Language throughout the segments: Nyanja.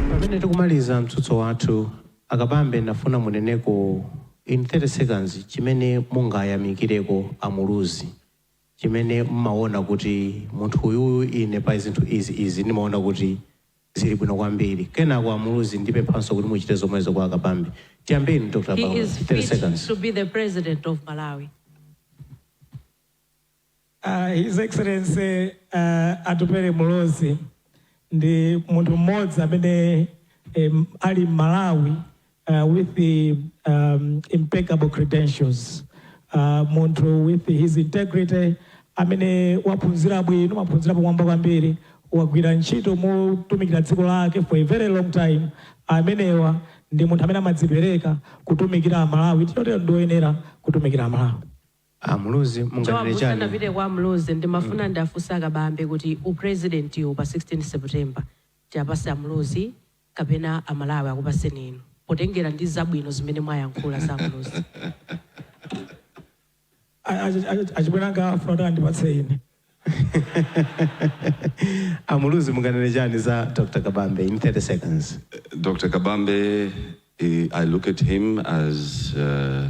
Pamene tikumaliza mtsutso wathu, a Kabambe ndafuna muneneko in 30 seconds chimene mungayamikireko a Muluzi, chimene mmaona kuti munthu uyuyu ine pa zinthu izi izi ndimaona kuti zili bwino kwambiri. Kenako a Muluzi ndipemphanso kuti muchite zomwezo kwa a Kabambe. Tiyambeni ndi Dr. Kabambe, 30 seconds. to be the president of Malawi. His Excellency Atupele Muluzi ndi munthu mmodzi amene ali Mmalawi with impeccable credentials, munthu with his integrity amene waphunzira bwino, maphunziro apamwamba kwambiri, wagwira ntchito motumikira dziko lake for a very long time, amenewa ndi munthu amene amadzipereka kutumikira Amalawi chotero ndi woyenera kutumikira Amalawi. A Muluzi munganene chani? Joab usanapite kwa a Muluzi ndimafuna ndiwafunse a Kabambe kuti u president wu pa 16 September tiwapatse a Muluzi kapena a Malawi akupaseni inu potengera ndi zabwino zimene mwayankhula za a Muluzi. Achibwere anga afuna kuti andipatse ine. A Muluzi munganene chani za Dr Kabambe in 30 seconds. Dr. Kabambe, eh, I look at him as uh,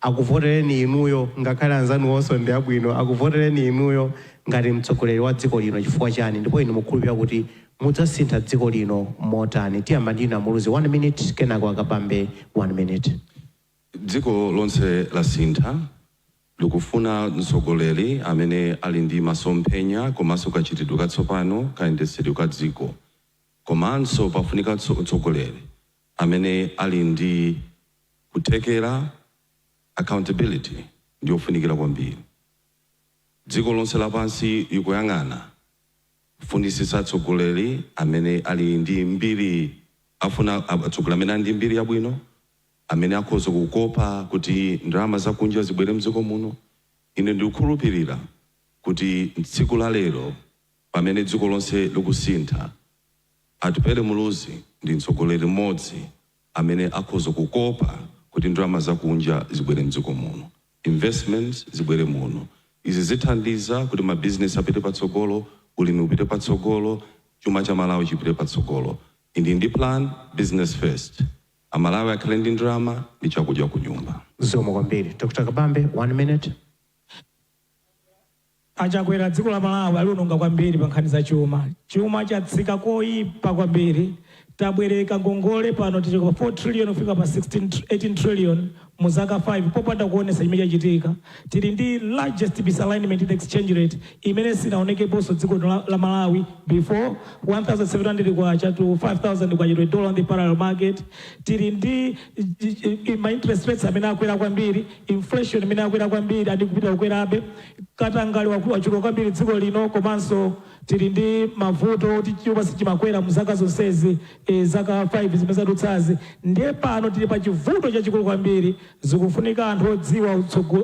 akuvotereni inuyo ngakhale anzanuwonso ndi abwino akuvotereni inuyo ngati mtsogoleri wa dziko lino chifukwa chani ndipo inu mukukhulupirira kuti mudzasintha dziko lino motani tiyamba ndi inu a Muluzi 1 minute kenako a Kabambe 1 minute. Dziko lonse lasintha likufuna mtsogoleri amene ali ndi masomphenya komanso kachitidwe katsopano kayendetsedwe ka dziko komanso pafunika mtsogoleri Amene ali ndi kuthekera, accountability ndi yofunikira kwambiri. Dziko lonse lapansi likuyang'ana kufunitsitsa atsogoleri amene ali ndi mbiri afuna atsogoleri amene ali ndi mbiri yabwino, amene akhoza kukopa kuti ndalama zakunja zibwere m'dziko muno. Ine ndikukhulupirira kuti tsiku la lero. Pamene dziko lonse likusintha, Atupele Muluzi ndi mtsogoleri mmodzi amene akhoza kukopa kuti ndalama zakunja zibwere mdziko muno, investments zibwere muno. Izi zithandiza kuti ma business apite patsogolo, ulimi upite patsogolo, chuma cha Malawi chipite patsogolo. Ndili ndi plan, business first, a Malawi akhale ndi ndalama ndi chakudya kunyumba. Zikomo kwambiri. Dr. Kabambe, 1 minute. A Chakwera dziko la Malawi aliononga kwambiri pa nkhani za chuma. Chuma chatsika koipa kwambiri. Tabwereka ngongole pano tichoka 4 trillion kufika pa 16 tr 18 trillion mu zaka 5 popanda kuonetsa chimene chachitika. Tili ndi largest misalignment in exchange rate imene sinaonekeponso dziko lino la, la Malawi before 1700 kwacha to 5000 kwacha to a dollar on the parallel market. Tili ndi ma interest rates amene akwera kwambiri. Inflation imene yakwera kwambiri and ikupitira kukwerabe, katangale wachuluka kwambiri dziko lino komanso tili ndi mavuto kuti chuma sichimakwera mu zaka zonsezi zaka 5 zimene zadutsazi ndiye pano tili pa chivuto chachikulu kwambiri zikufunika anthu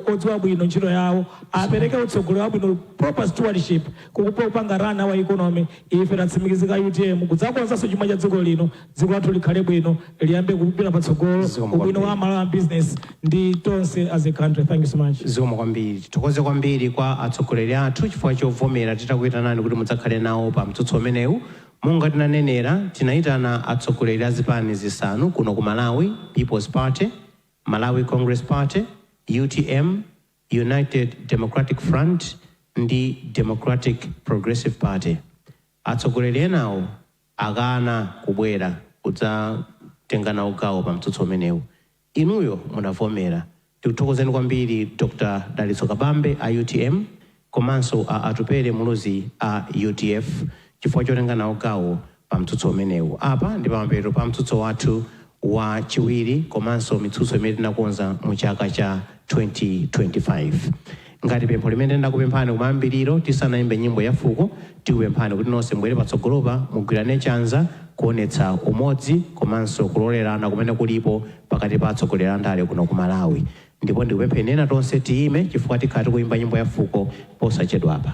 odziwa bwino ntchito yawo apereke utsogoleri wabwino proper stewardship kupanga run our economy ife tatsimikizika utm kudzakonzanso chuma cha dziko lino dziko lathu likhale bwino liyambe kupita patsogolo ubwino wa malawi business ndi tonse as a country thank you so much zikomo kwambiri tithokoze kwambiri kwa atsogoleri athu chifukwa chovomera titakuyitanani kuti mudzakhale nawo pa mtsutso umenewu monga tinanenera tinayitana atsogoleri a zipani zisanu kuno ku malawi peoples party malawi congress party utm united democratic front ndi democratic progressive party atsogoleri enawo akana kubwera kudzatenga nawo gawo pa mtsutso umenewu. Inuyo munavomera. Tikuthokozeni kwambiri Dr Dalitso Kabambe a utm komanso a Atupele Muluzi a udf chifukwa chotenga nawo gawo pa mtsutso umenewu. Apa ndi pamapeto pa mtsutso wathu wa chiwiri komanso mitsutso imene tinakonza mu chaka cha 2025. Ngati pempho limene tinakupemphani kumayambiriro tisanaimbe nyimbo ya fuko, tikupemphani kuti nonse mubwere patsogolopa, mugwirane chanza kuonetsa umodzi komanso kulolerana kumene kulipo pakati pa atsogoleri a ndale kuno ku Malawi. Ndipo ndikupempheni ena tonse tiime chifukwa tikhala tikuimba nyimbo ya fuko posachedwapa.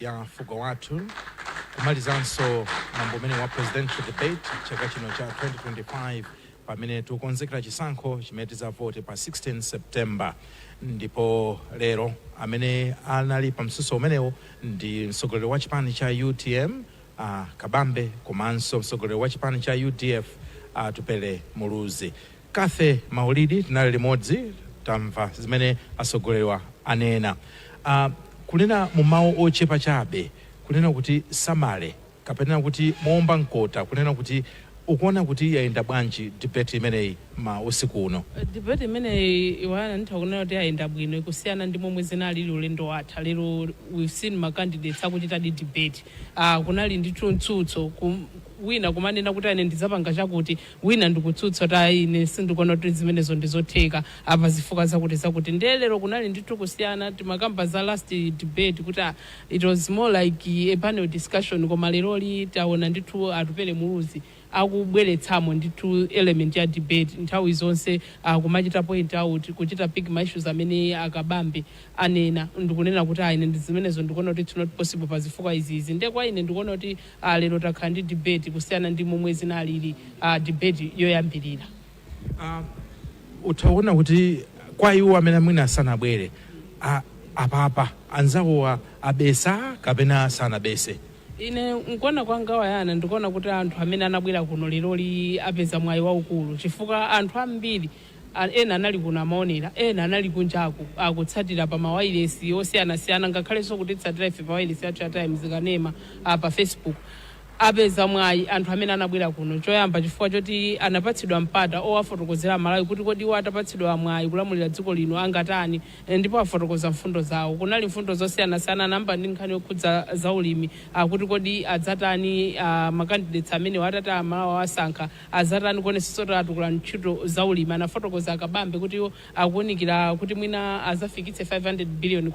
ya fuko lathu kumalizanso mwambo umenewu wa presidential debate chaka chino cha 2025 pamene tikukonzekera chisankho chimene tidzavote pa 16 september ndipo lero amene anali pa mtsutso umenewo ndi mtsogoleri wa chipani cha utm uh, kabambe komanso mtsogoleri wa chipani cha udf atupele muluzi Cathy Maulidi tinali limodzi tamva zimene atsogoleriwa anena. A kunena mu mau ochepa chabe kunena kuti summary kapena kuti moomba mkota kunena kuti ukuona kuti yayenda bwanji debate imeneyi ma usiku uno? Debate imeneyi Yohana nditha kunena kuti yayenda bwino kusiyana ndi momwe zinalili ulendo watha. Lero we've seen ma candidates akuchitadi debate. A kunali ndithu mtsutso wina kumanena kuti ine ndidzapanga chakuti wina ndikutsutsa kuti ayi ine sindikuona kuti zimenezo ndizotheka pa zifukwa zakuti zakuti ndiye lero kunali ndithu kusiyana timakamba za last debate kuti ah, it was more like a panel discussion koma leroli taona ndithu Atupele Muluzi akubweretsamo ndithu element ya debate nthawi zonse ah, kumachita point out kuchita pick ma issues amene a Kabambe anena ndikunena kuti ayi ine ndi zimenezo ndikuona kuti it's not possible pa zifukwa izizi ndiye kwa ine ndikuona kuti a lero takhala ndi debate kusiyana ndi momwe zinalili a debate yoyambirira. a utha kuona kuti kwa iwo amene mwina sanabwere a- apapa anzawowa abetsa kapena sanabetse ine nkuona kwanga Wayana ndikuona kuti anthu amene anabwera kuno leroli apeza mwayi waukulu chifukwa anthu ambiri a, ena anali kuno amaonera, ena anali kunjaku akutsatira pa mawailesi osiyanasiyana ngakhalenso kutitsatira ife pa wailesi yathu ya Times Kanema a pa Facebook, apeza mwayi anthu amene anabwera kuno choyamba chifukwa choti anapatsidwa mpata owafotokozera Amalawi kuti kodi iwo atapatsidwa mwayi kulamulira dziko lino angatani ndipo afotokoza mfundo zawo. Kunali mfundo zosiyanasiyana, anayamba ndi nkhani yokhudza za ulimi, a, kuti kodi adzatani a, ma candidates amenewa atati a, Amalawi awasankha. Azatani kuonetsetsa kuti atukula ntchito za ulimi? Anafotokoza a Kabambe kuti iwo akuunikira kuti mwina azafikitse K500 billion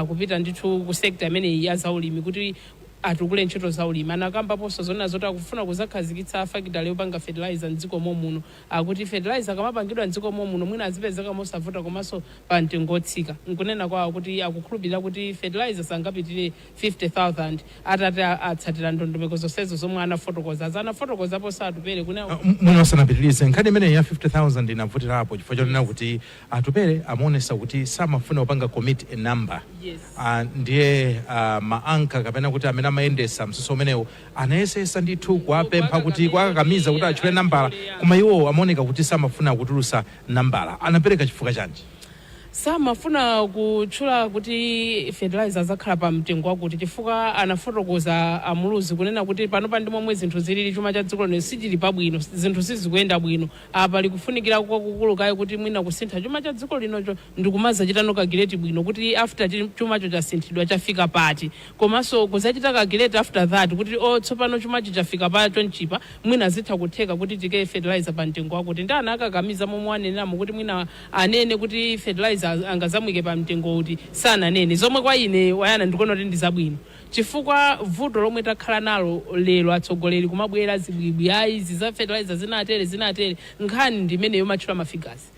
kupita ndithu ku sector imeneyi ya za ulimi kuti atukule ntchito za ulimi. Anakambaponso zonena zoti akufuna kuzakhazikitsa fakitale yopanga fertilizer m'dziko momwe muno. Akuti fertilizer akamapangidwa m'dziko momwe muno mwina azipezeka mosavuta komanso pa mtengo otsika. Nkunena kwawo kuti akukhulupilira kuti fertilizer sangapitire 50,000 atati atsatira ndondomeko zonsezo zomwe anafotokozazi. Anafotokozaponso Atupele kunena kuti. Mwina usanapitilize, nkhani imeneyi ya 50,000 inavutilapo chifukwa chonena kuti Atupele amaonetsa kuti samafuna kupanga commit a number ndiye ma anchor kapena kuti amene amayendesa mtsutso umenewo anayesetsa ndithu kuwapempha kuti, kuwakakamiza kuti atchule nambala koma iwo amaoneka kuti samafuna kutulutsa nambala. Anapeleka chifukwa chanji? samafuna kutchula kuti fertilizer adzakhala pa mtengo wakuti chifukwa anafotokoza a Muluzi kunena kuti panopa ndi momwe zinthu zilili chuma cha dziko lino sichili pabwino zinthu sizikuyenda bwino apa pali kufunikira kwakukulu kaye kuti mwina kusintha chuma cha dziko linocho ndikumazachitano calculate bwino kuti after chi- chumacho chasinthidwa chafika pati komanso kuzachita calculate after that kuti o tsopano chumachi chafika pa chonchi apa mwina zitha kutheka kuti tiike fertilizer pa mtengo wakuti ndiye anawakakamiza momwe waneneramo kuti mwina anene kuti fertilizer angazamuike pa mtengo uti sananene zomwe kwa ine Wayana ndikuona kuti ndi zabwino chifukwa vuto lomwe takhala nalo lero atsogoleri kumabwera zibwibwi ayi izi za fertilizer zinatere zinatere nkhani ndi imeneyo umatchula ma figures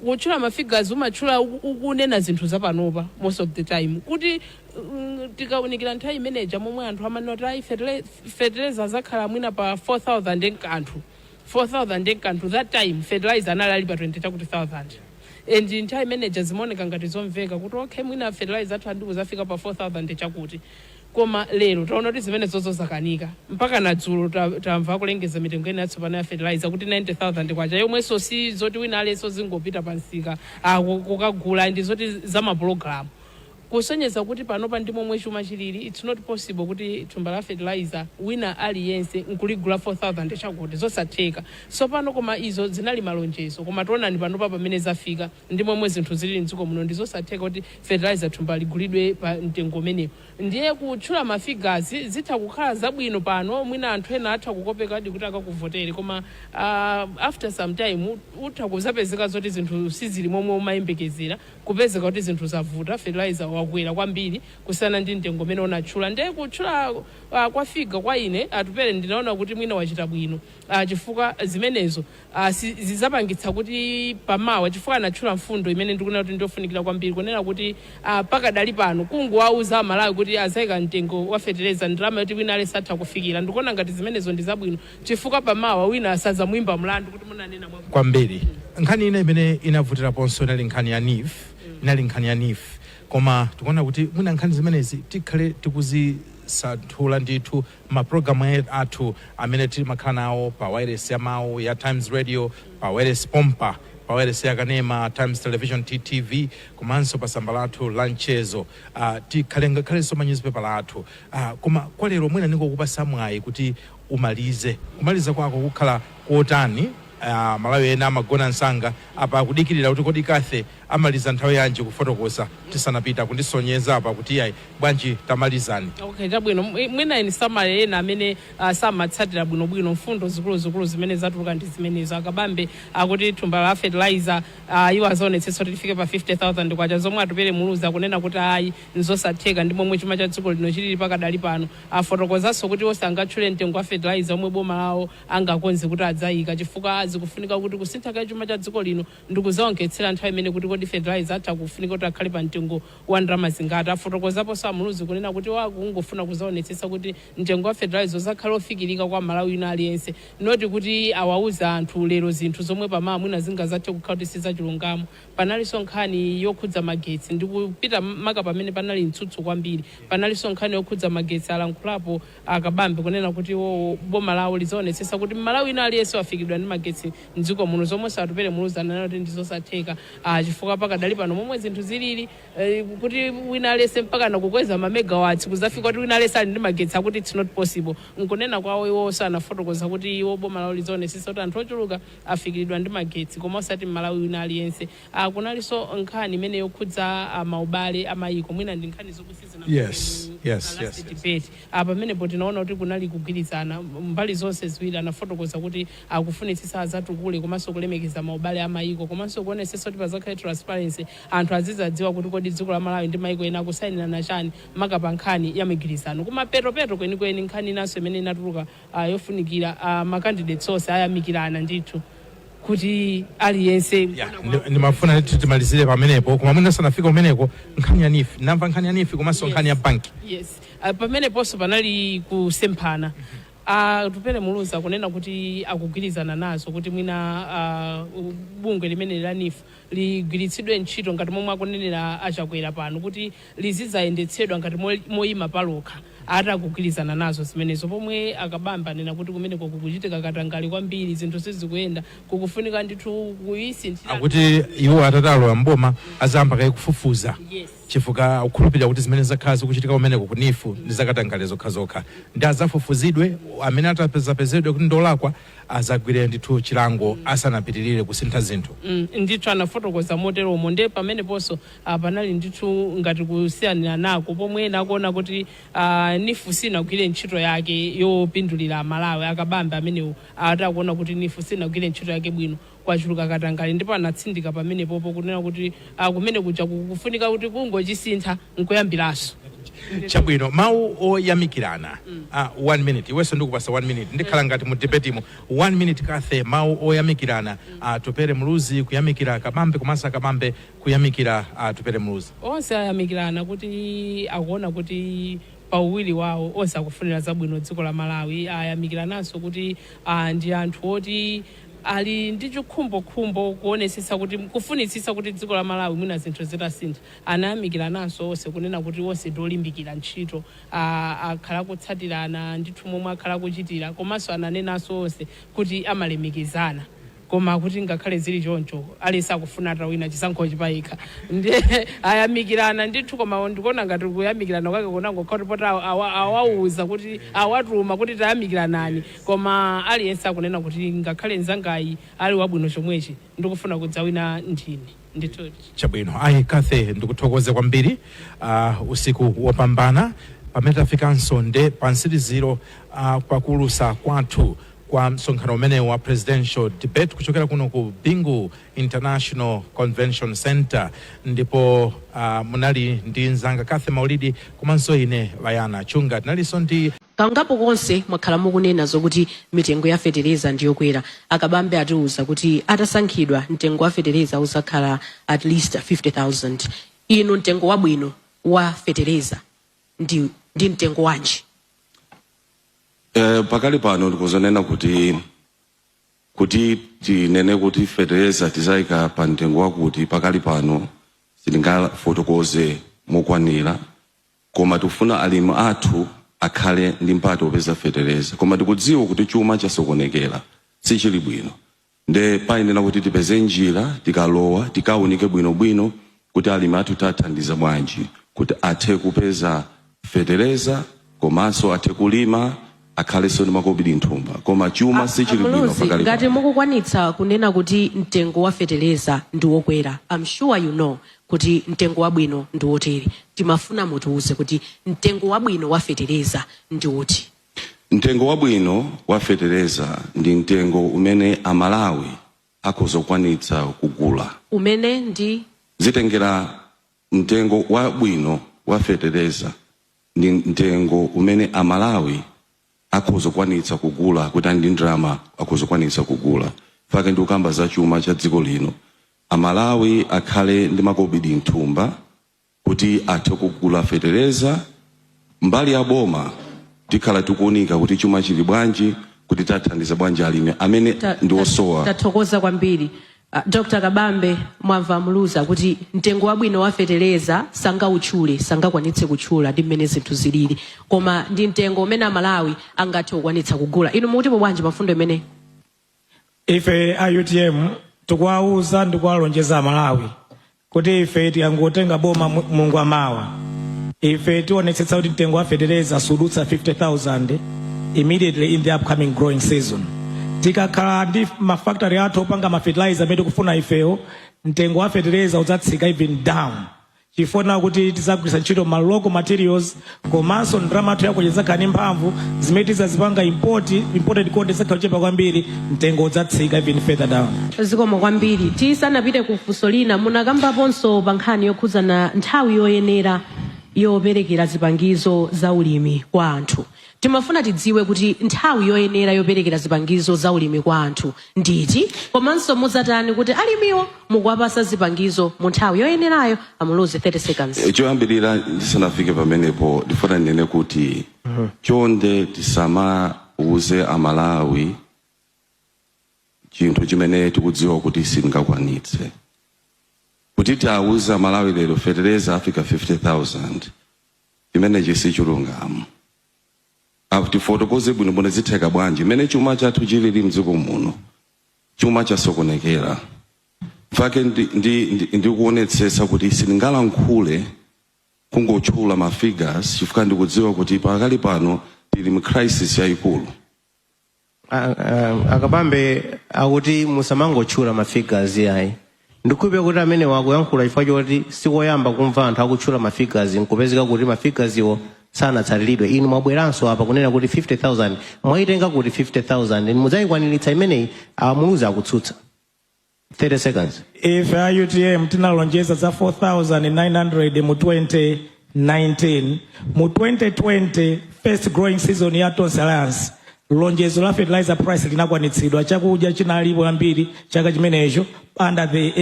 kutchula ma figures umatchula uku- ukunena zinthu zapanopa most of the time kuti mm, tikaunikira nthawi imene ija momwe anthu amanena kuti ayi fertile- fertilizer azakhala mwina pa 4000 ndi kanthu 4000 ndi kanthu that time fertilizer anali ali pa 20 chakuti thousand and nthawi imene ija zimaoneka ngati zomveka kuti okay mwina fertilizer athu andi kuzafika pa 4000 chakuti koma lero taona kuti zimenezozo zakanika mpaka na dzulo ta- tamva akulengeza mitengo ina yatsopano ya fertilizer kuti 90000 kwacha yomwenso si zoti wina aliyenso zingopita pa msika ah, ku- kukagula ndi zoti za mapulogalamu Kusonyeza kuti panopa ndi momwe chuma chilili it's not possible kuti thumba la fertilizer wina aliyense nkuligula 4000 chakuti nzosatheka. Tsopano koma izo zinali malonjezo koma tionani panopa pamene zafika ndi momwe zinthu zilili mdziko muno ndi zosatheka kuti fertilizer thumba ligulidwe pa mtengo umenewo. Ndiye kutchula ma figures zitha kukhala zabwino pano mwina anthu ena atha kukopekadi kuti akakuvotere koma aah after some time utha kuzapezeka zoti zinthu sizili momwe umayembekezera. kupezeka kuti zinthu zavuta fertilizer wakwera kwambiri kusiyana ndi mtengo umene unatchula ndiye kutchula uh, kwa figure kwa ine Atupele ndinaona kuti mwina wachita bwino uh, chifukwa zimenezo uh, si, zizapangitsa kuti pamawa chifukwa anatchula mfundo imene ndikuona kuti ndiyofunikira kwambiri kunena kuti uh, pakadali pano kungowauza Amalawi kuti azaika mtengo wa fertilizer ndalama yoti wina aliyense atha kufikira ndikuona ngati zimenezo ndi zabwino chifukwa pamawa wina asadzamuimbe mlandu kuti munanena mwa. kwambiri. Nkhani ina imene inavutiraponso inali nkhani ya NEEF, inali nkhani ya NEEF. Koma tikuona kuti mwina nkhani zimenezi tikhale tikuzisanthula ndithu mapulogalamu e- athu amene timakhala nawo pa wailesi ya mawu ya Times Radio, pa wailesi pompa, pa wailesi ya kanema Times Television TTV, komanso pa tsamba lathu la mchezo uh, tikhale ngakhalenso manyuzipepala athu uh, koma kwa lero mwina ndingokupasa mwayi kuti umalize. Kumaliza kwako kukhala kotani? A Malawi ena amagona msanga. Apa akudikilira kuti kodi Kathy amaliza nthawi yanji kufotokoza tisanapite. Akundisonyeza apa kuti iyayi bwanji tamalizani. Okay, chabwino. Mwi- Mwina in summary ena amene ah, samatsatira bwinobwino mfundo zikuluzikulu zimene zatuluka ndi zimenezo. A Kabambe akuti thumba la fertilizer ah, iwo azaonetsetsa kuti lifike pa 50,000 kwacha zomwe Atupele Muluzi akunena kuti ayi nzosatheka ndi momwe chuma cha dziko lino chilili pakadali pano. Afotokozanso kuti iwo sangatchule mtengo wa fertilizer omwe boma lawo angakonze kuti adzaika chifukwa zikufunika kuti kusinthaka chuma cha dziko lino ndikudzawonkhetsera nthawi imene kuti kodi fertilizer atha kufunika kuti akhale pa mtengo wa ndalama zingati. Afotokozaponso a Muluzi kunena kuti iwo akungofuna kuzaonetsetsa kuti mtengo wa fertilizer uzakhale ofikilika kwa M'malawi wina aliyense not kuti awauza anthu lero zinthu zomwe pamawa mwina zingazathe kukhala kuti sizachulungamo. Panalinso nkhani yokhudza magetsi ndi kupita maka pamene panali mtsutso kwambiri. Panalinso nkhani yokhudza magetsi alankhulapo a Kabambe kunena kuti iwowo boma lawo lidzaonetsetsa kuti m'Malawi wina aliyense wafikiridwa ndi magetsi m'dziko muno zomwenso Atupele Muluzi ananena kuti ndi zosatheka chifukwa pakadali pano momwe zinthu zilili kuti wina aliyense mpakana kukweza ma megawatts kudzafika kuti wina aliyense ali ndi magetsi akuti it's not possible. Nkunena kwawo iwowo anafotokoza kuti iwo boma lawo lidzaonetsetsa kuti anthu ochuluka afikilidwa ndi magetsi koma osati m'Malawi wina aliyense. A. Kunalinso nkhani imene yokhudza a, maubale a mayiko, mwina ndi nkhani zokuti sizina- yes, a, last yes, yes. debate. A, Pamenepo tinaona kuti kunali kugwirizana, m, mbali zonse ziwiri anafotokoza kuti akufunitsitsa adzatukule komanso kulemekeza maubale a mayiko komanso kuonetsetsa kuti padzakhale transparency, anthu azidzadziwa kuti kodi dziko la Malawi ndi mayiko ena akusayinirana chani maka pa nkhani ya migwirizano. Kumapetopeto kwenikweni, nkhani inanso imene inatuluka a yofunikira a ma candidates onse ayamikirana ndithu kuti aliyense Ya, ndi- ndimafuna ndithu timalizire pamenepo koma mwina usanafike kumeneko nkhani ya NEEF ndamva nkhani ya NEEF komanso nkhani ya banki yes Ah, pameneponso panali kusemphana Atupele Muluzi akunena kuti akugwirizana nazo kuti mwina ah, bungwe limene la NEEF ligwiritsidwe ntchito ngati momwe akunenera a Chakwera pano kuti lizidzayendetsedwa ngati moima palokha, ati akugwirizana nazo zimenezo pomwe a Kabambe anena kuti kumeneko kukuchitika katangale kwambiri, zinthu sizikuyenda, kukufunika ndithu kuisinthiratu ndondomeko. Akuti iwo atati alowa m'boma azayamba kaye kufufuza chifukwa akukhulupirira kuti zimene zakhala zikuchitika kumeneko ku NEEF ndi zakatangale zokhazokha nde azafufuzidwe amene atazapezedwe kuti ndolakwa azagwire ndithu chilango asanapitilire kusintha zinthu. mm ndithu anafotokoza moteromo nde pameneponso ah, panali ndithu ngati kusiyaniranako pomwe ena akuona kuti ah, NEEF sinagwire ntchito yake yopindulira aMalawi a Kabambe amenewo ati akuona kuti NEEF sinagwire ntchito yake bwino kwachuluka katangale ndipo anatsindika pamenepopo kunena kuti ah, kumene kuja kukufunika kuti kungochisintha nkuyambiranso chabwino mawu oyamikirana ah, one minute iwenso ndikupatsa one minute ndikhala ngati mu debetimu one minute Kathe mawu oyamikirana Atupele Muluzi kuyamikira Kabambe komanso a Kabambe kuyamikira Atupele Muluzi onse ayamikirana kuti akuona kuti pa uwiri wawo onse akufunira zabwino dziko la Malawi ayamikirananso kuti ah, ndi anthu oti ali ndi chikhumbokhumbo kuonetsetsa kuti kufunitsitsa kuti dziko la Malawi mwina zinthu zitasintha anayamikirananso onse kunena kuti onse ndi olimbikira ntchito a akhala akutsatirana ndithu momwe akhala akuchitira komanso ananenanso onse kuti amalemekezana koma kuti ngakhale zili choncho aliyense akufuna atawina chisankhochi payekha nde ayamikirana ndithu koma ndikuona ngati kuyamikirana kwake kunangokhala kuti poti awa- awa- awauza kuti awatuma kuti tayamikiranani Koma aliyense akunena kuti ngakhale nzangayi ali wabwino chomwechi ndikufuna kudzawina ndine. Ndithudi. Chabwino. Ayi, Cathy ndikuthokoze kwambiri. Uh, usiku wopambana. Pamene tafikanso nde pa mtsiriziro uh, kwa kuulusa kwathu kwa msonkhano umene wa presidential debate kuchokera kuno ku Bingu International Convention Center ndipo uh, munali ndi nzanga Cathy Maulidi komanso ine Wayana Chunga tinalinso ndi Kangapo konse mwakhala mukunena zokuti mitengo ya fetereza ndiyokwera. A Kabambe atiuza kuti atasankhidwa mtengo wa fetereza uzakhala at least 50,000. Inu mtengo wabwino wa fetereza ndi mtengo wanji? Pakali pano ndikhoza kunena kuti tinene kuti fetereza tizaika pa mtengo wakuti pakali pano sitingafotokoze mokwanira. Koma tikufuna alimi athu akhale ndi mpata opeza fetereza. Koma tikudziwa kuti chuma chasokonekera, sichili bwino nde payenera kuti tipeze njira tikalowa tikaunike bwinobwino kuti alimi athu tiathandiza bwanji kuti athe kupeza fetereza komanso athe kulima. akhaleso ndi makobidi nthumba koma chuma sichili bwino pakali pano. A, a Muluzi, ngati mukukwanitsa kunena kuti mtengo wa feteleza ndi wokwera I'm sure you know kuti mtengo wabwino ndi wotere timafuna mutiuze kuti mtengo wabwino wa feteleza ndi uti mtengo wabwino wa fetereza ndi mtengo umene amalawi akhoza kukwanitsa kugula umene ndi zitengera mtengo wabwino wa fetereza ndi mtengo umene a Malawi akhoza kukwanitsa kugula kuti ali ndi ndrama akhoza kukwanitsa kugula nchake ndikukamba za chuma cha dziko lino a Malawi akhale ndi makobidi mthumba kuti athe kugula fetereza mbali ya boma tikhala tikuunika kuti chuma chili bwanji kuti tiathandiza bwanji alimi amene ndi osowa. Ta- ta- tathokoza kwambiri. A Dr Kabambe mwamva a Muluzi akuti mtengo wabwino wa fetereza sangautchule, sangakwanitse kutchula ndi mmene zinthu zilili koma ndi mtengo umene Amalawi angathe kukwanitsa kugula. Inu mukutipo bwanji pa mfundo imeneyi? Ife a utm tikuwauza ndi kuwalonjeza Amalawi kuti ife tikangotenga boma mulungu wamawa ife tionetsetsa kuti mtengo wa fetereza sudutsa 50000 immediately in the upcoming growing season tikakhala ndi mafactory athu opanga mafetilizer amene tikufuna ifeyo mtengo wa fetereza udzatsika even down chifukwa chakuti tizagwiritsa ntchito ma local materials komanso ndalama yathu ya kwacha idzakhala ndi mphamvu zimene tizazipanga import imported cost idzakhala yochepa kwambiri mtengo udzatsika even further down zikomo kwambiri tisanapite ku funso lina munakambaponso pa nkhani yokhudzana nthawi yoyenera yoperekera zipangizo za ulimi kwa anthu timafuna tidziwe kuti nthawi yoyenera yoperekera zipangizo za ulimi kwa anthu Ndi iti komanso mudzatani kuti alimiwo mukuwapasa zipangizo mu nthawi yoyenerayo? A Muluzi 30 seconds. Choyambirira ndisanafike pamenepo ndifuna ndinene kuti chonde tisamauze Amalawi chinthu chimene tikudziwa kuti sitingakwanitse. Kuti tiwauze Amalawi lero fetereza afika 50,000 chimenechi si chilungamo. A, tifotokoze bwino bwino zitheka bwanji mmene chuma chathu chilili mdziko muno chuma chasokonekera nchifukwa chake ndi, ndi, ndi, ndikuonetsetsa kuti sindingalankhule kungotchula ma figures chifukwa ndikudziwa kuti pakali pano tili mu crisis yayikulu A- a- a Kabambe akuti musamangotchula ma figures ayi ndikhulupirira kuti amenewa akuyankhula chifukwa choti sikoyamba kumva anthu akutchula ma figures nkupezeka kuti ma figures wo sanatsatiridwe inu mwabweranso apa kunena kuti 50000 mwayitenga kuti 50000 mudzayikwaniritsa imeneyi a Muluzi akutsutsa 30 seconds. Ife a utm tinalonjeza za 4900 mu 2019 mu 2020 first growing season ya Tonse Alliance lonjezo la fertilizer price linakwanitsidwa chakudya chinalipo chambiri chaka chimenecho under the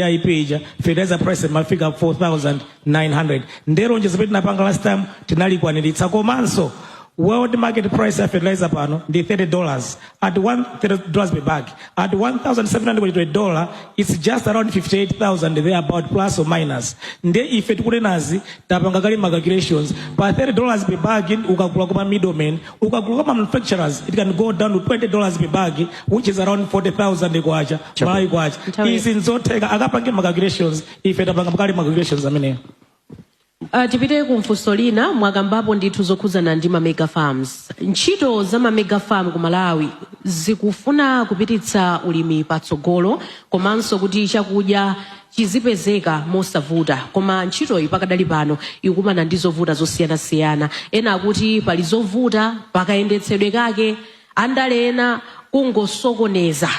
AIP ija fertilizer price imafika 4000 900 nde lonjezo limene tinapanga last time tinalikwaniritsa komanso world market price ya fertilizer pano ndi 30 dollars at 1 30 dollars per bag at 1700 kwacha to a dollar it's just around 58000 there about plus or minus nde ife tikunenazi tapanga kale ma calculations pa 30 dollars per bag in- ukagula kwa middleman ukagula kwa ma manufacturers it can go down to 20 dollars per bag which is around 40000 kwacha malawi kwacha Nthawi- izi nzotheka akapange ma calculations ife tapanga kale ma calculations ameneyo Uh, tipite ku funso lina mwakambapo ndithu zokhudzana ndi ma mega farms ntchito za ma mega farm ku malawi zikufuna kupititsa ulimi patsogolo komanso kuti chakudya chizipezeka mosavuta koma ntchitoyi pakadali pano ikukumana ndi zovuta zosiyanasiyana ena akuti pali zovuta pakayendetsedwe kake andale ena kungosokoneza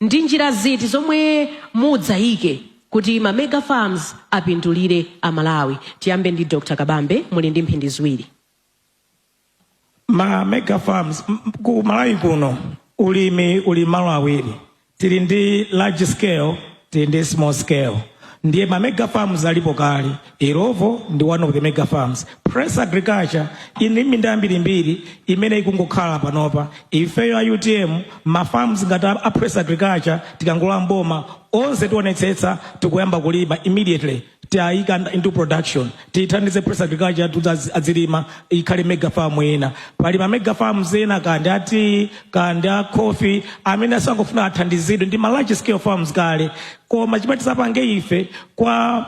Ndi njira ziti zomwe mudzaike kuti ma mega farms apindulire a Malawi? Tiyambe ndi Dr Kabambe muli ndi mphindi ziwiri. Ma mega farms ku Malawi kuno ulimi uli mmalo awiri tili ndi large scale tili ndi small scale ndiye ma mega farms alipo kale. Illovo ndi one of the mega farms. Press Agriculture ili ndi minda yambirimbiri imene ikungokhala panopa. Ifeyo a UTM ma farms ngati a Press Agriculture tikangolowa m'boma onse tionetsetsa tikuyamba kulima immediately tiayika nd- into production tithandize Press Agriculture kuti azi- azilima ikhale mega farm ina. Pali ma mega farms ena kandi a tea kandi a coffee amene akungofuna athandizidwe ndi ma large scale farms kale koma chimene tizapange ife kwa,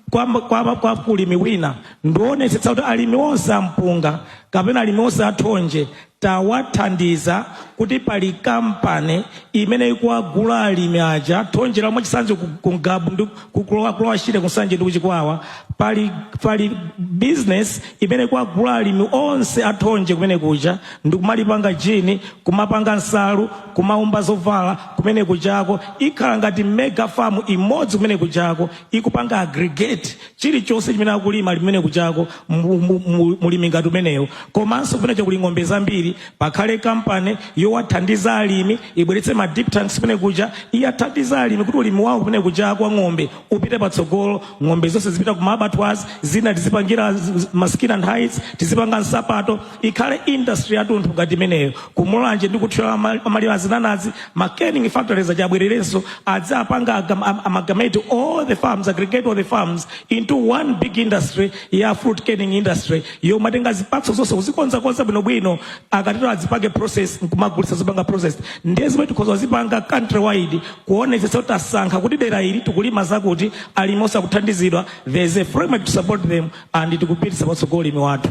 kwa, kwa, kwa ulimi wina ndi kuonetsetsa kuti alimi onse ampunga kapena alimi onse athonje tawathandiza kuti pali kampani imene ikuwagula alimi aja thonjelo mwachitsanzo ku Ngabu ndi ku Lower Shire ku Nsanje ndi ku Chikwawa pali, pali business imene ikuwagula alimi onse athonje kumene kuja ndi kumalipanga gin kumapanga nsalu kumaumba zovala kumene kujako, ikhala ngati mega farm imodzi kumene kujako, ikupanga aggregate chilichonse chimene akulima alimi kumene kujako, mu- mu- mu- mulimi ngati umenewo. Komanso kumene kuli ng'ombe zambiri, pakhale kampani yowathandiza alimi, ibweretse ma dip tanks kumene kuja, iyathandiza alimi kuti ulimi wawo kumene kujako wa ng'ombe upite patsogolo, ng'ombe zonse zipita ku ma abattoirs, zina tizipangira z- z- ma skin and hides, tizipanga nsapato, ikhale industry yatunthu ngati imeneyo ku Mulanje ndi ku Thyolo amalima zinanazi ma canning factories adzabwererenso adzapanga amalgamate all the farms aggregate all the farms into one big industry ya fruit canning industry yomatenga zipatso zonse kuzikonzakonza bwinobwino akatero azipange process nkumagulitsa zipanga process ndiye zimene tikhoza kuzipanga country wide kuonetsetsa kuti tasankha kuti dera ili tikulima zakuti alimi onse akuthandizidwa there is a framework to support them and tikupititsa patsogolo ulimi wathu.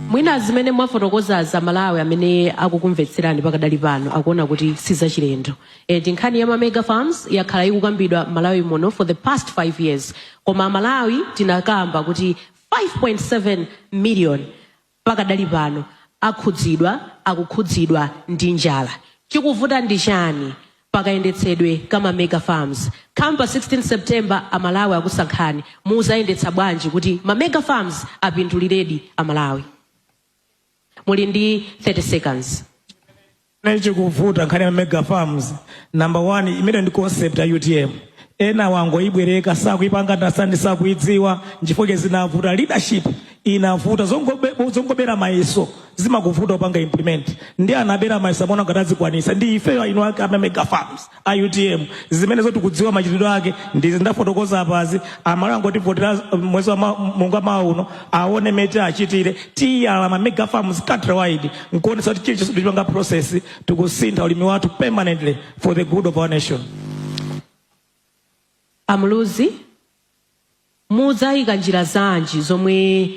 Mwina zimene mwafotokozazi Amalawi amene akukumvetserani pakadali pano akuona kuti si zachilendo and nkhani ya ma mega farms yakhala ikukambidwa m'Malawi muno for the past 5 years koma Amalawi tinakamba kuti 5.7 million pakadali pano akhudzidwa, akukhudzidwa ndi njala. Chikuvuta ndi chani pakayendetsedwe ka ma mega farms? Come pa 16 September amalawi akusankhani muzayendetsa bwanji kuti ma mega farms apinduliredi amalawi? Muli ndi 30 seconds. Chimene chikuvuta nkhani ya mega farms number one, imene ndi concept ya UTM ena wangoibwereka sakuipanga understand sakuidziwa nchifukwa zinavuta leadership inavuta zongobe- zongobera mayeso zimakuvuta kupanga implement ndiye anabera mayeso amaona ngati azikwanisa ndi ifeyo eni ake a ma mega farms a utm zimenezo tikudziwa machitidwe ake ndi izi ndafotokoza apazi amalawi angotivotera mwezi wa ma- mulungu wa mawa uno aone mmene tichitire tiyala ma mega farms countrywide nkuonesa kuti chilichonse tichipanga process tikusintha ulimi wathu permanently for the good of our nation a Muluzi mudzayika njira zanji zomwe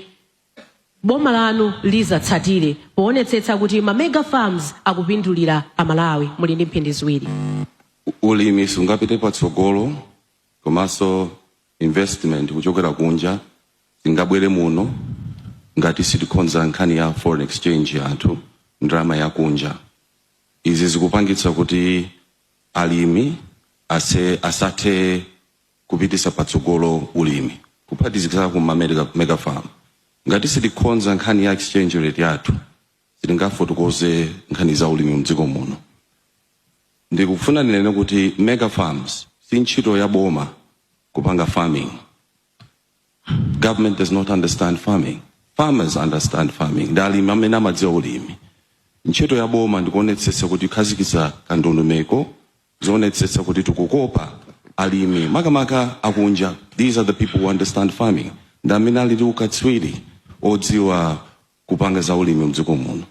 boma lanu lizatsatire poonetsetsa kuti ma mega farms akupindulira a Malawi. Muli ndi mphindi ziwiri. Ulimi sungapite patsogolo komanso investment kuchokera kunja singabwere muno ngati sitikhonza nkhani ya foreign exchange yathu ndalama yakunja. Izi zikupangitsa kuti alimi ase, asathe kupitisa patsogolo ulimi kuphatikizirapo ma mega farm. Ngati sitikhonza nkhani ya exchange rate yathu sitingafotokoze nkhani za ulimi mdziko muno. Ndikufuna ndinene kuti mega farms si ntchito ya boma kupanga farming. Government does not understand farming. Farmers understand farming. Ndi alimi amene amadziwa ulimi. Ntchito ya boma ndikuonetsetsa kuti tikukhazikitsa ka ndondomeko zoonetsetsa kuti tikukopa alimi makamaka akunja these are the people who understand farming ndi amene ali ndi ukatswiri odziwa kupanga za ulimi mdziko muno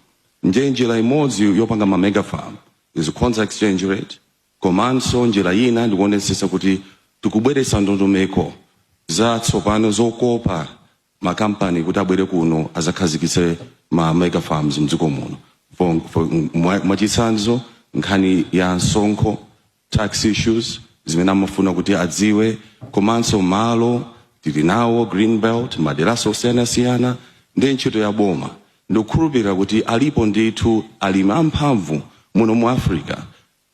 ndiye njira imodzi yopanga ma mega farm is kukonza exchange rate komanso njira ina ndikuonetsetsa kuti tikubweretsa ndondomeko zatsopano zokopa makampani kuti abwere kuno azakhazikitse ma mega farms mdziko muno for, for, mwa- mwachitsanzo nkhani ya msonkho tax issues zimene amafuna kuti adziwe komanso malo tili nawo green belt maderanso osiyanasiyana ndi ntchito ya boma ndikukhulupirira kuti alipo ndithu alimi amphamvu muno mu africa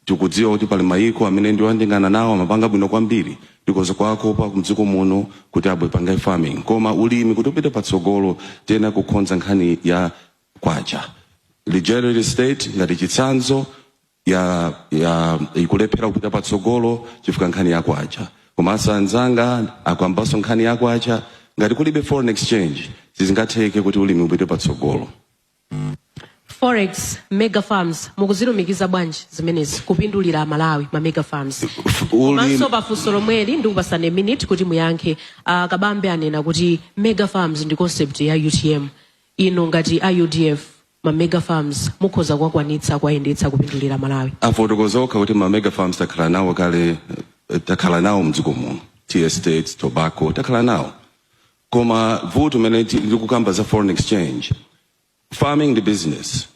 Tikudziwa kuti pali mayiko amene ndi oyandikana nawo amapanga bwino kwambiri, tikoza kuwakopa ku mdziko muno kuti abwere apange farming koma ulimi kuti upite patsogolo tiyenera kukhonza nkhani ya kwacha. Ligerard estate ngati chitsanzo ya ya ikulephera kupita patsogolo chifukwa nkhani ya kwacha komanso anzanga akambanso nkhani ya kwacha ngati kulibe foreign exchange sizingatheke kuti ulimi upite patsogolo. Forex, mega farms, mukuzilumikiza bwanji zimenezi kupindulira Malawi ma mega farms? Komanso pafunso lomweli ndikupasani a minute kuti muyankhe. A Kabambe anena kuti mega farms ndi concept ya UTM. Inu ngati a UDF ma mega farms mukhoza kuwakwanitsa kuwayendetsa kupindulira Malawi. afotokoza okha kuti ma mega farms takhala nawo kale eh, takhala nawo mdziko muno tea estates tobacco takhala nawo koma vuto limene ti- likukamba za foreign exchange farming ndi business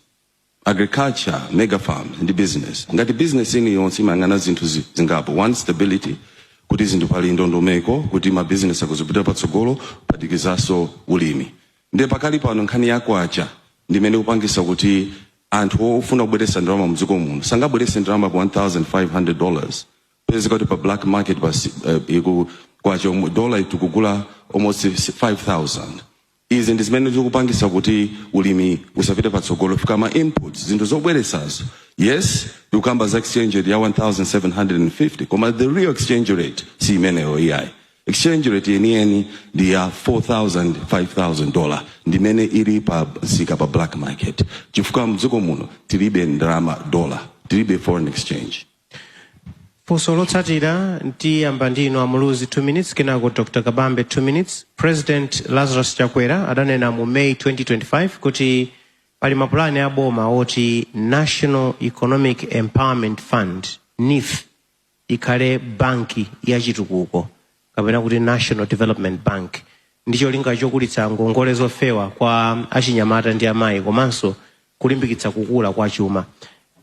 agriculture mega farms ndi business ngati business ina iliyonse imayang'ana zinthu zi- zingapo one stability kuti zinthu pali ndondomeko kuti ma business akuzipita patsogolo kuphatikizanso ulimi ndiye pakali pano nkhani ya kwacha ndimene ikupangisa kuti anthu ofuna kubweresa ndalama mdziko muno sangabwerese ndalama pa 1500 dollars pezeka kuti pa black market pa si- eh, iku kwacha umu- dola tikugula almost 5000 izi ndi zimene zikupangisa kuti ulimi usapite patsogolo chifukwa ma inputs zinthu zobweresazo yes tikukamba za exchange rate ya 1750 koma the real exchange rate si imeneyo iyayi exchange rate yeniyeni ndi ya 4000 5000 dollar ndimene ili pa msika pa black market chifukwa mdziko muno tilibe ndalama dollar tilibe foreign exchange Funso lotsatira ndiyamba ndi inu a Muluzi 2 minutes kenako Dr. Kabambe 2 minutes. President Lazarus Chakwera adanena mu May 2025 kuti pali mapulani a boma oti National Economic Empowerment Fund NEEF ikhale banki ya chitukuko kapena kuti National Development Bank ndi cholinga chokulitsa ngongole zofewa kwa achinyamata ndi amayi komanso kulimbikitsa kukula kwa chuma.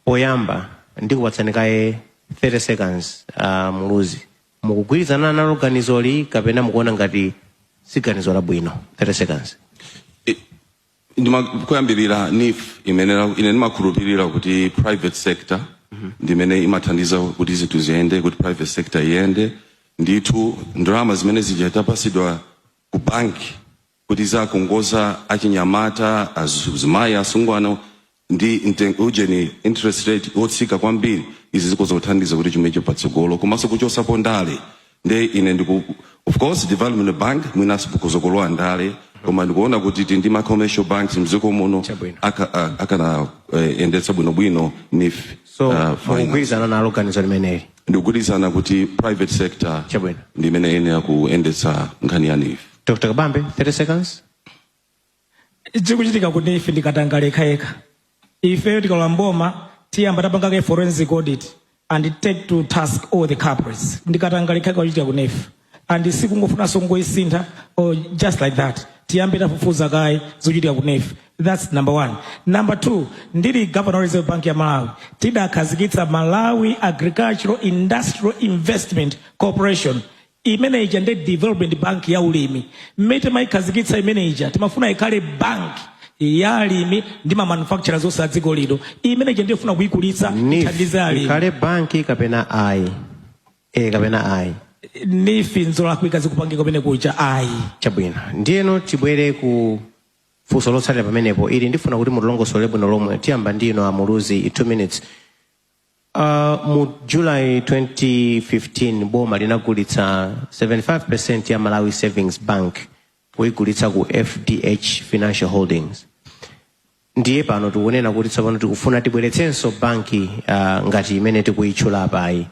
Poyamba ndikupatsani kaye 30 seconds uh, Muluzi. Mukugwirizana nalo ganizoli kapena mukuona ngati si ganizo labwino? 30 seconds. ndima kuyambirira NEEF imene ine ndimakhulupirira kuti private sector ndimene imathandiza kuti zinthu ziyende kuti private sector iyende ndithu ndalama zimene zitapasidwa ku banki kuti azikongoza achinyamata azimayi asungwana ndi mtengo ujeni interest rate wotsika kwambiri izi zikhoza kuthandiza kuti chuma chipite patsogolo komanso kuchosapo ndale nde ine ndiku of course development bank mwinanso kukhoza kulowa ndale koma ndikuona kuti tili ndi ma commercial banks mdziko muno Chabwino. aka- a- akanayendetsa bwinobwino NEEF so uh, finance. mukugwirizana nalo ganizo limeneli ndikugwirizana kuti private sector Chabwino. ndi imene iyenera kuyendetsa nkhani ya NEEF dr kabambe 30 seconds chikuchitika ku NEEF ndi katangale yekhayekha ifeyo tikalowa mboma tiyamba tapanga kaye forensic audit and take to task all the culprits ndi katangale yekhayekha akuchitika ku NEEF and sikungofunanso kungoyisintha or just like that tiyambe tafufuza kaye zochitika ku NEEF that's number one number two ndili governor wa reserve bank ya malawi tidakhazikitsa malawi agricultural industrial investment corporation Imene ija ndi development bank ya ulimi. Mmene timaikhazikitsa imene ija, timafuna ikhale bank ya alimi ndi ma manufacturers onse a dziko lino. Imene ija ndiyofuna kuikulitsa ithandize alimi. ikhale banki kapena ayi? E kapena ayi? Neef nzolakwika zikupangika kumene kuja ayi. Chabwino. Ndiyeno tibwere ku funso lotsatira pamenepo. Ili ndifuna kuti mulilongosole bwino lomwe. Tiyamba ndi inu a Muluzi 2 minutes. Uh, mu July 2015 boma linagulitsa 75% ya Malawi Savings Bank kuyigulitsa ku FDH Financial Holdings ndiye pano tikunena kuti tsopano tikufuna tibweretsenso banki uh, ngati imene tikuyitchula apayi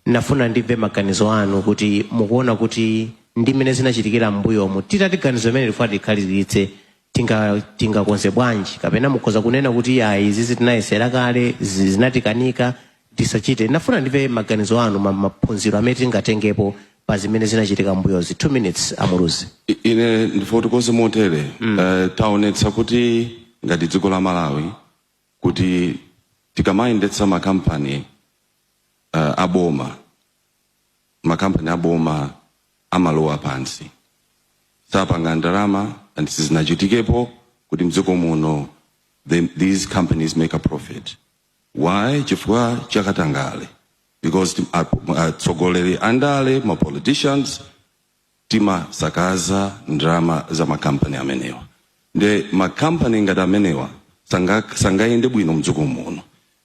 nafuna ndimve maganizo anu kuti mukuona kuti ndi mmene zinachitikira m'mbuyomu titati ganizo limeneli kuti tikwaniritse tinga tingakonze bwanji kapena mukhoza kunena kuti ayi izizi tinayesera kale zi- zinatikanika tisachite nafuna ndimve maganizo anu ma- maphunziro amene tingatengepo pa zimene zinachitika mbuyozi 2 minutes amuluzi I- ine ndifotokoze motere Eh, taonetsa kuti ngati dziko la malawi kuti tikamayendetsa makampani eh, aboma makampani a boma amalowa pansi sapanga ndalama and sizinachitikepo kuti mdziko muno the, these companies make a profit why chifukwa chakatangale because atsogoleri andale ma politicians timasakaza ndalama za makampani amenewa nde makampani ngati amenewa sanga sangayende bwino mdziko muno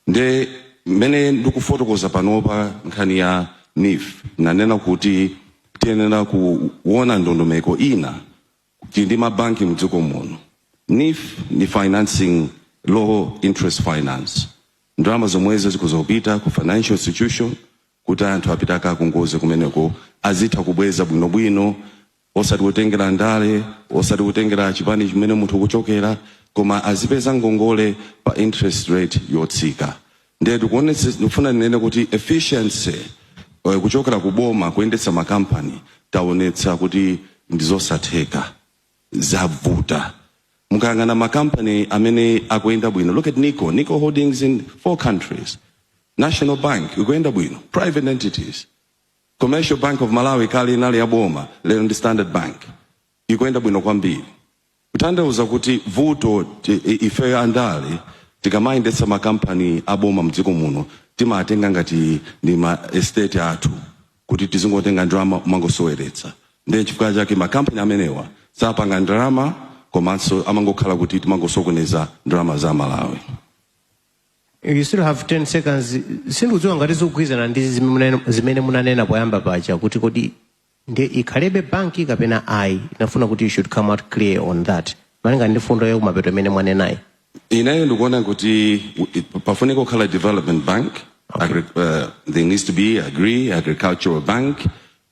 nde mmene ndikufotokoza panopa nkhani ya NEEF nanena kuti tiyenera kuona ndondomeko ina kuti ndi mabanki mdziko muno NEEF ndi financing low interest finance ndalama zomwezo zikudzapita ku financial institution kuti anthu apite akakongole kumeneko azitha kubweza bwinobwino osati kutengera ndale osati kutengera chipani chimene munthu kuchokera koma azipeza ngongole pa interest rate yotsika ndiye tikuonetsa ndikufuna ndinene kuti efficiency eh, kuchokera ku boma kuyendetsa makampani taonetsa kuti ndizosatheka zavuta mukayang'ana makampani amene akuyenda bwino look at nico nico holdings in four countries national bank ikuyenda bwino private entities commercial bank of malawi kale inali ya boma lero ndi standard bank ikuyenda bwino kwambiri kutanthauza kuti vuto ti- i- ife andale tikamayendetsa makampani aboma mdziko muno timatenga ngati ndi ma estate athu kuti tizingotenga ndalama kumangosoweretsa ndiye chifukwa chake ma company amenewa sapanga ndalama komanso amangokhala kuti timangosokoneza ndalama za Malawi. You still have 10 seconds. Sindikudziwa ngati zikugwirizana ndi zimene- zimene munanena poyamba paja kuti kodi ndi ikhalebe banki kapena ayi. Ndafuna kuti you should come out clear on that. Malinga ndi mfundo yakumapeto imene mwanenayi. Ineyo ndikuona kuti pafunika kukhala development bank agri, uh, there needs to be agri agricultural bank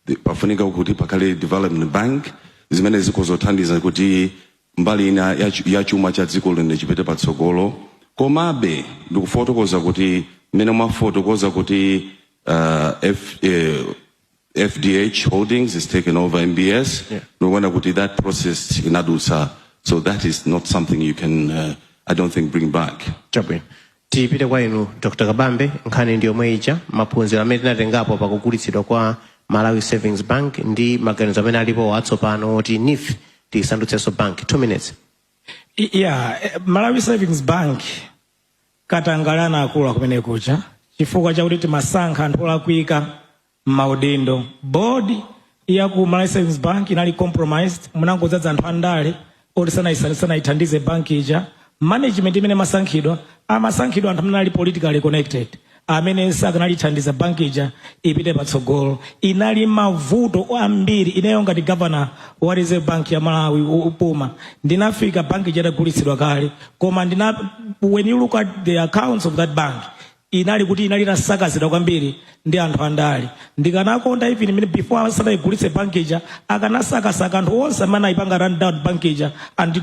The- pafunika kuti pakhale development bank zimene zikathandize kuti mbali ina ya chu- ya chuma cha dziko lino chipite patsogolo komabe ndikufotokoza kuti mmene mwafotokoza kuti uh, F, eh, FDH Holdings has taken over MBS. Yeah. Ndikuona kuti that process inadutsa. So that is not something you can, uh, I don't think, bring back. Chabwino. tipite kwa inu dr kabambe nkhani ndi yomwe ija maphunziro amene tinatengapo pakugulitsidwa kwa malawi savings bank ndi maganizo amene alipo atsopano oti nif tiyisandutsenso bank two minutes I- yeah eh, malawi savings bank Katangale anakula kumene kuja chifukwa chakuti timasankha anthu olakwika mmaudindo. Board ya ku Malawi Savings Bank inali compromised, munangodzaza anthu andale oti sanayisa- sanayithandize bank ija. Management imene imasankhidwa, amasankhidwa anthu amene anali politically connected, amene sakanaithandiza bank ija ipite patsogolo. Inali ndi mavuto ambiri. Ineyo ngati governor wa Reserve Bank ya Malawi, opuma, ndinafika bank ija itagulitsidwa kale. koma ndina when you look at the accounts of that bank inali kuti inali itasakazidwa kwambiri ndi anthu andale ndikanakonda even imene before asanaigulitse bank ija akanasakasaka anthu onse amene anayipanga run down bank ija and